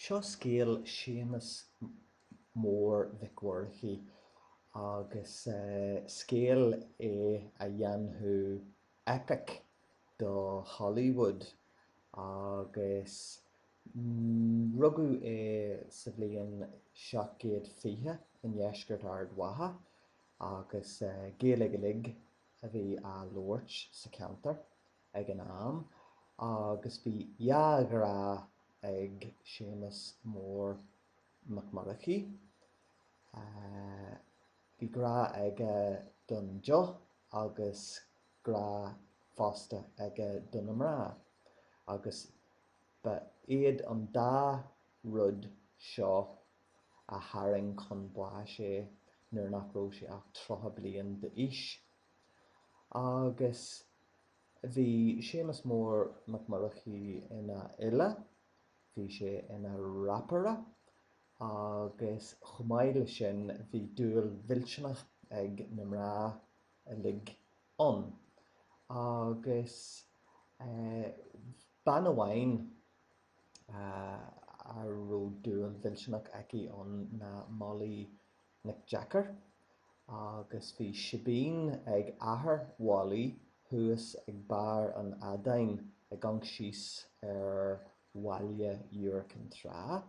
Seo scéal Séamus Mór Mhic Mhurchaidh agus scéal é a dhéanfadh eipic do Hollywood agus rugadh é sa bhliain seacht gcéad fiche i ndeisceart Ard Mhacha agus Gaeilge uilig a bhí á labhairt sa cheantar. ag an am agus bhí dhá ghrá ag Séamus Mór Mac Murchaidh. Bhí grá aige don deoch agus grá fosta aige do na mná agus ba iad an dá rud seo a tharraing chun báis é nuair nach raibh sé ach 30 bliain d'aois. Agus bhí Séamus Mór Mac Murchaidh ina fhile, bhí sé ina rapaire agus chomh maith leis sin bhí dúil mhillteanach ag na mná uilig ann. Agus bean amháin a raibh dúil mhillteanach aici ann ná Molly Nic Deacair, agus bhí síbín ag athair Mholly thuas ag Barr an Fheadáin ag amhanc síos ar bhaile Iúr Chinn Trá,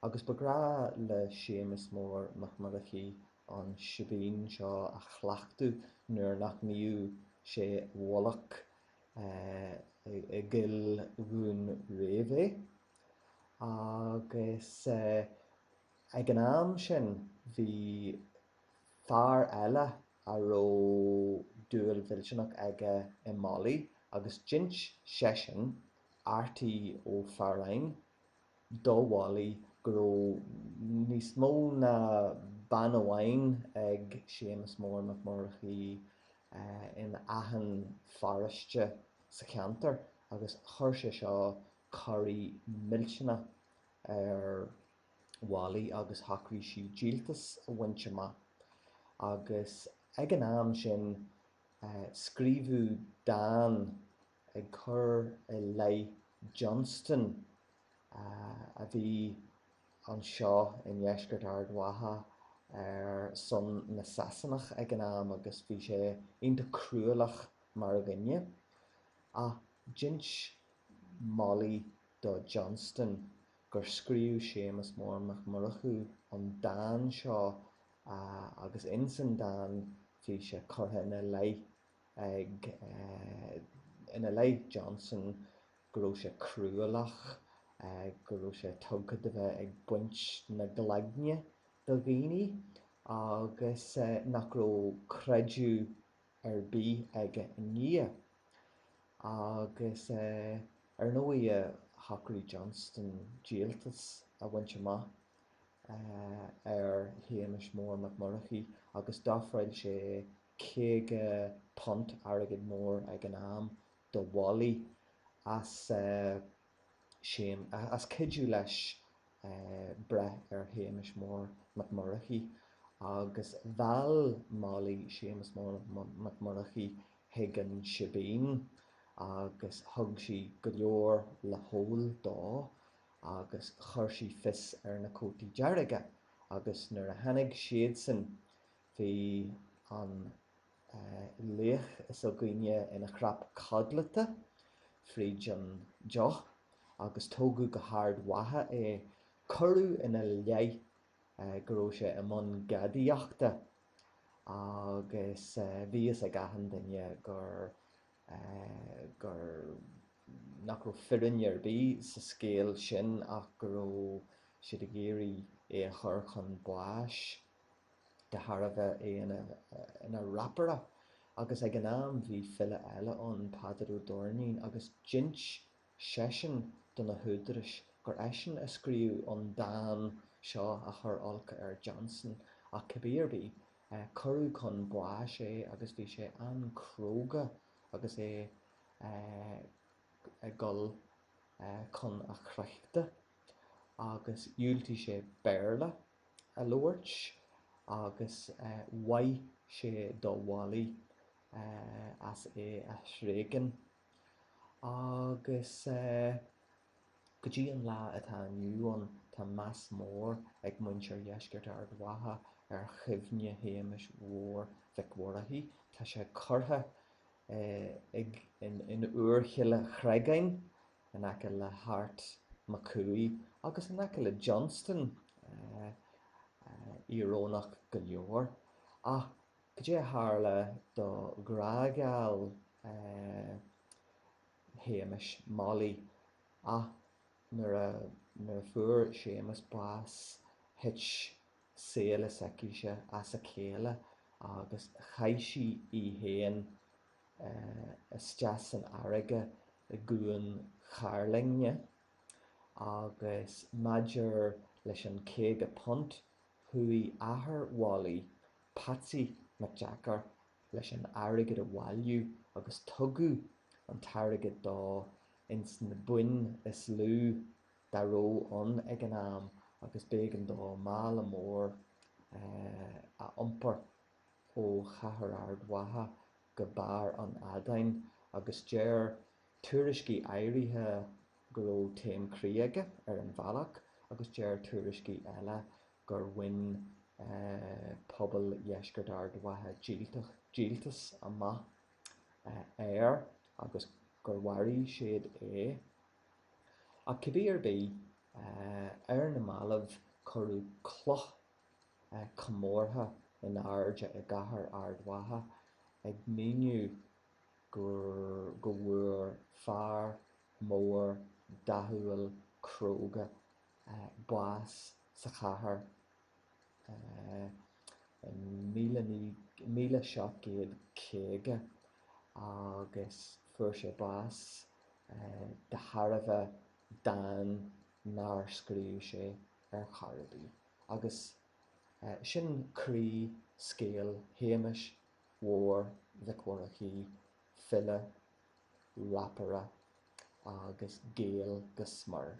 agus ba ghnách le Séamus Mór Mac Murchaidh an síbín seo a chleachtadh nuair nach mbíodh sé i bhfolach i gCoill Dhún Réimhe. Agus. Ag an am sin bhí fear eile a raibh dúil mhillteanach aige i Molly agus d'ins seisean, Artie Ó Fearáin, do Mholly go raibh níos mó ná bean amháin ag Séamus Mór Mac Murchaidh in achan pharóiste sa cheantar agus chuir sé seo corraí millteanach ar Mholly agus shocraigh sí díoltas a bhaint amach, agus ag an am sin scríobhadh dán ag cur i leith Johnston a bhí anseo i ndeisceart Ard Mhacha ar son na Sasanach ag an am agus bhí sé iontach cruálach mar dhuine. Ach D'inis Molly do Johnston gur scríobh Séamus Mór Mac Murchaidh an dán seo agus ins an dán bhí sé curtha i leith ag i leith Johnston go raibh sé cruálach, go raibh sé tugtha do bheith ag baint na gcloigne de dhaoine agus nach raibh creideamh ar bith aige i nDia. Agus ar ndóigh shocraigh Johnston díoltas a bhaint amach ar Shéamas Mór Mac Murchaidh agus d'ofráil sé £50, airgead mór ag an am, do Mholly as. Séamas cuidiú leis breith ar Shéamus Mór Mac Murchaidh agus mheall Molly Séamus Mór Mac Murchaidh chuig an sibín agus thug sí go leor le hól dó agus chuir sí fios ar na Cótaí Dearga agus nuair a tháinig siadsan bhí an laoch s'againne ina chnap codlata fríd an deoch agus tógadh go hArd Mhacha é, cuireadh ina leith go raibh sé i mbun gadaíochta agus bhí fhios ag achan duine gur. gur. nach raibh fírinne ar bith sa scéal sin ach go raibh siad ag iarraidh é a chur chun báis. de thairbhe é ina rapaire agus ag an am bhí file eile ann, Peadar Ó Doirnín, agus d'inis seisean do na húdarais gur eisean a scríobh an dán seo a chuir olc ar Johnston. Ach cibé ar bith, cuireadh chun báis é agus bhí sé an-chróga agus é ag dul chun a chrochta agus dhiúltaigh sé Béarla. a labhairt agus mhaith sé do Mholly as é a thréigean. Agus go dtí an lá atá inniu ann tá meas mór ag muintir Dheisceart Ard Mhacha ar chuimhne Shéamais Mhóir Mhic Mhurchaidh. Tá sé curtha in Úirchill an Chreagáin in aice le hArt Mac Cumhaigh agus in aice le Johnston, íorónach go leor, ach cad é a tharla do ghrá geal Shéamais, Molly, ach nuair a fuair Séamas bás thit saol s'aicise as a chéile agus chaith sí í féin isteach san fharraige i gCuan Chairlinne agus maidir leis an £50, chuaigh athair Mholly, Patsy Mac Deacair, leis an airgead a bhailiú agus tugadh an t-airgead dó ins na boinn is lú dá raibh ann ag an am agus b'éigean dó mála mór a iompar. ó Chathair Ard Mhacha go barr an Fheadáin agus deir tuairiscí áirithe go raibh taom croí aige ar an bhealach agus deir tuairiscí eile gur bhain pobal Dheisceart Ard Mhacha díoltas amach air agus gur mharaigh siad é. Ach cibé ar bith, ar na mallaibh cuireadh cloch comórtha in airde i gcathair Ard Mhacha ag míniú go bhfuair fear mór dathúil cróga bás sa chathair in míle seacht gcéad caoga agus fuair sé bás de thairbhe dán nár scríobh sé. ar chor ar bith, agus sin croí scéal Shéamais Mhóir Mhic Mhurchaidh, file, rapaire agus Gael go smior.